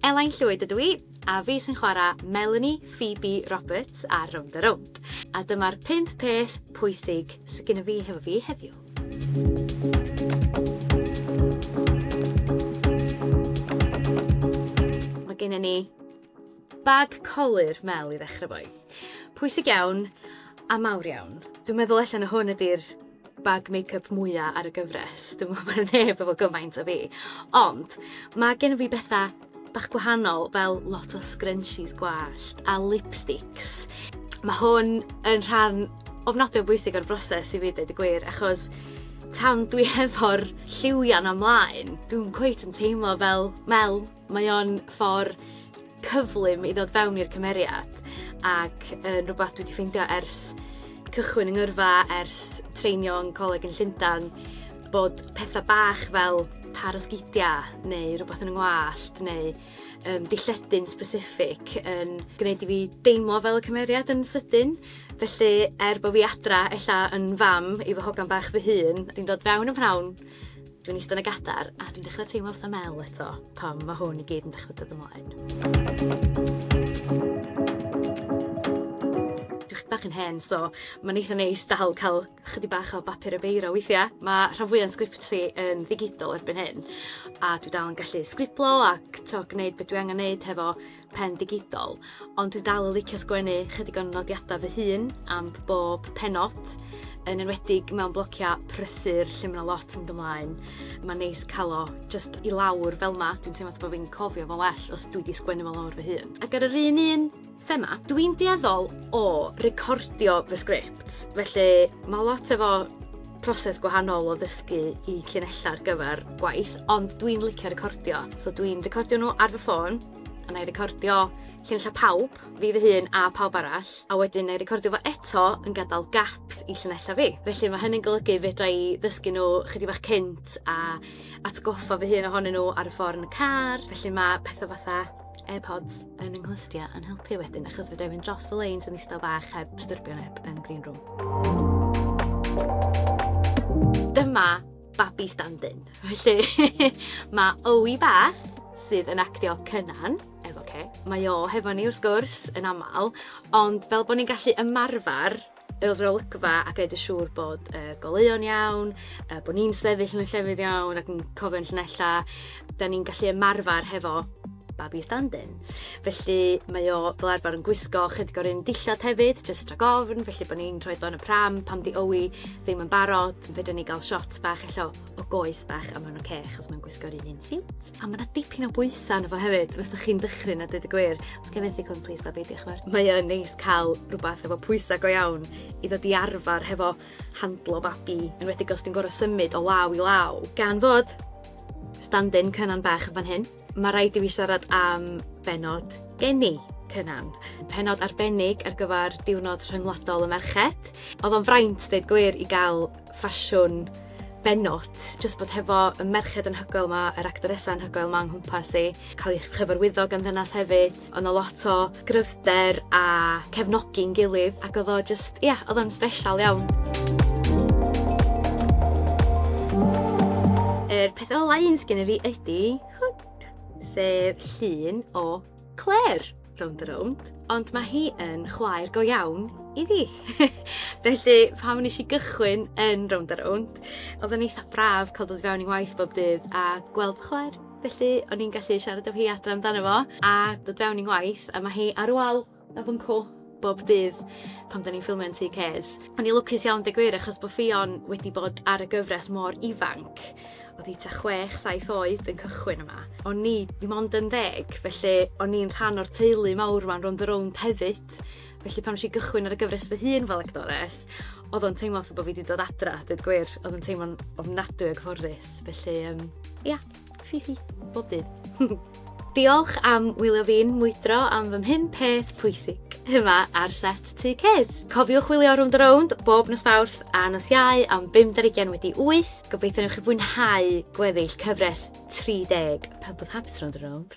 Elain Llwyd ydw i, a fi sy'n chwarae Melanie Phoebe Roberts ar Rownd a Rownd. A dyma'r pump peth pwysig sydd gyda fi hefo fi heddiw. Mae gennym ni bag colur Mel i ddechrau fo. Pwysig iawn a mawr iawn. Dwi'n meddwl allan o hwn ydy'r bag make-up mwya ar y gyfres. Dwi'n meddwl bod neb efo gymaint o fi. Ond mae gen fi bethau bach gwahanol fel lot o scrunchies gwallt a lipsticks. Mae hwn yn rhan ofnadwy o bwysig o'r broses i fi dweud y gwir achos tan dwi hefo'r lliwian ymlaen, dwi'n cweit yn teimlo fel Mel Mae o'n ffor cyflym i ddod fewn i'r cymeriad ac yn rhywbeth dwi wedi ffeindio ers cychwyn yng ngyrfa, ers treinio yn coleg yn Llundain, bod pethau bach fel par o sgidiau neu rhywbeth yn y ngwallt neu um, dilledyn specific yn gwneud i fi deimlo fel y cymeriad yn sydyn. Felly, er bod fi adra ella yn fam i fy hogan bach fy hun, dwi'n dod fewn y prawn Dwi'n eistedd yn y gadar a dwi'n dechrau teimlo fatha mel eto pam mae hwn i gyd yn dechrau dod ymlaen. Dwi'n bach yn hen, so mae'n eitha neis dal cael chydig bach o bapur y beiro weithiau. Mae rhan fwyaf o'n sgripti yn ddigidol erbyn hyn, a dwi dal yn gallu sgriblo ac to, gwneud beth dwi angen wneud hefo pen digidol, ond dwi dal yn licio sgwennu chydig o'n nodiadau fy hun am bob penod, yn enwedig mewn blociau prysur lle mae lot yn gymlaen. Mae'n neis cael o just i lawr fel ma, dwi'n teimlo bod fi'n cofio fo'n well os dwi wedi sgwennu fo lawr fy hun. Ac ar yr un un thema, dwi'n dueddol o recordio fy sgript, felly mae lot efo proses gwahanol o ddysgu i llinellau ar gyfer gwaith, ond dwi'n licio recordio. So dwi'n recordio nhw ar fy ffôn, a na'i recordio llinella pawb, fi fy hun a pawb arall, a wedyn na'i recordio fo eto yn gadael gaps i llinella fi. Felly mae hynny'n golygu fedra i ddysgu nhw chydig bach cynt a atgoffa fy hun ohonyn nhw ar y ffordd yn y car. Felly mae pethau fatha AirPods yn ynghlystio yn helpu wedyn achos fedra i fynd dros fy leins yn eistedd bach heb styrbio neb yn green room. Dyma babi stand-in. Felly, mae Owi Bach, sydd yn actio Cynan, efo ce, mae o hefo ni wrth gwrs yn aml, ond fel bod ni'n gallu ymarfer y rolygfa a gwneud y siŵr bod y goleuon iawn, bod ni'n sefyll yn y llefydd iawn ac yn cofio'n llunella, da ni'n gallu ymarfer hefo babi stand-in. Felly mae o fel arfer yn gwisgo chydig o'r un dillad hefyd, jyst rhag ofn, felly bod ni'n rhoi do'n y pram pam di owi ddim yn barod, yn fydden ni gael shot bach allo o goes bach a mae'n oce okay, achos mae'n gwisgo'r un un siwt. A mae yna dipyn o bwysau yna fo hefyd, os ydych chi'n dychryn a dweud y gwir. Os gen i cwn, please babi, diolch yn fawr. Mae o'n neis cael rhywbeth efo pwysau go iawn i ddod i arfer hefo handlo babi, yn wedi os dwi'n gorau symud o law i law. Gan fod Standin Cynan Bach yn fan hyn. Mae rhaid i fi siarad am benod geni Cynan. Penod arbennig ar gyfer diwrnod rhyngwladol y merched. Oedd o'n fraint, dweud gwir, i gael ffasiwn benod. Just bod hefo y merched yn hygoel yma, yr actoresau yn hygoel yma yng nghwmpas i, cael eich chyfarwyddo gan ddynas hefyd. O' 'na lot o gryfder a cefnogi'n gilydd ac odd o jyst ia odd o'n sbesial iawn. Yr peth ola un sgyn i fi ydi hwn. Sef llun o Clare, rownd a rownd, ond ma' hi yn chwaer go iawn i fi. Felly pan nesh i gychwyn yn rownd a rownd odden ni itha braf ca'l dod i fewn i waith bob dydd a gweld chwaer. Felly, o'n i'n gallu siarad efo hi adra amdano fo a dod fewn i'n ngwaith a ma' hi ar wal y fynco bob dydd pan 'dan ni'n ffilmio'n Tŷ Ces. O'n i lwcus iawn deg gwir achos bo' Ffion wedi bod ar y gyfres mor ifanc. O'dd 'i tua chwech saith oed yn cychwyn yma. O'n i dim ond yn ddeg felly o'n i'n rhan o'r teulu mawr 'ma'n rownd a rownd hefyd felly pan nesh i gychwyn ar y gyfres fy hun fel actores o'dd o'n teimlo fatha bo' fi 'di dod adra deud gwir o'dd yn teimlo'n ofnadwy o gyfforddus. Alex, felly um, ia, ffi ffi, bob dydd. Diolch am wylio fi'n mwydro am fy mhum peth pwysig yma ar set tu Cez. Cofiwch wylio Round the Round bob nos fawrth a nos iau am 50 wedi 8. Gobeithio newch chi fwynhau gweddill cyfres 30 Pub of Habs Round the Round.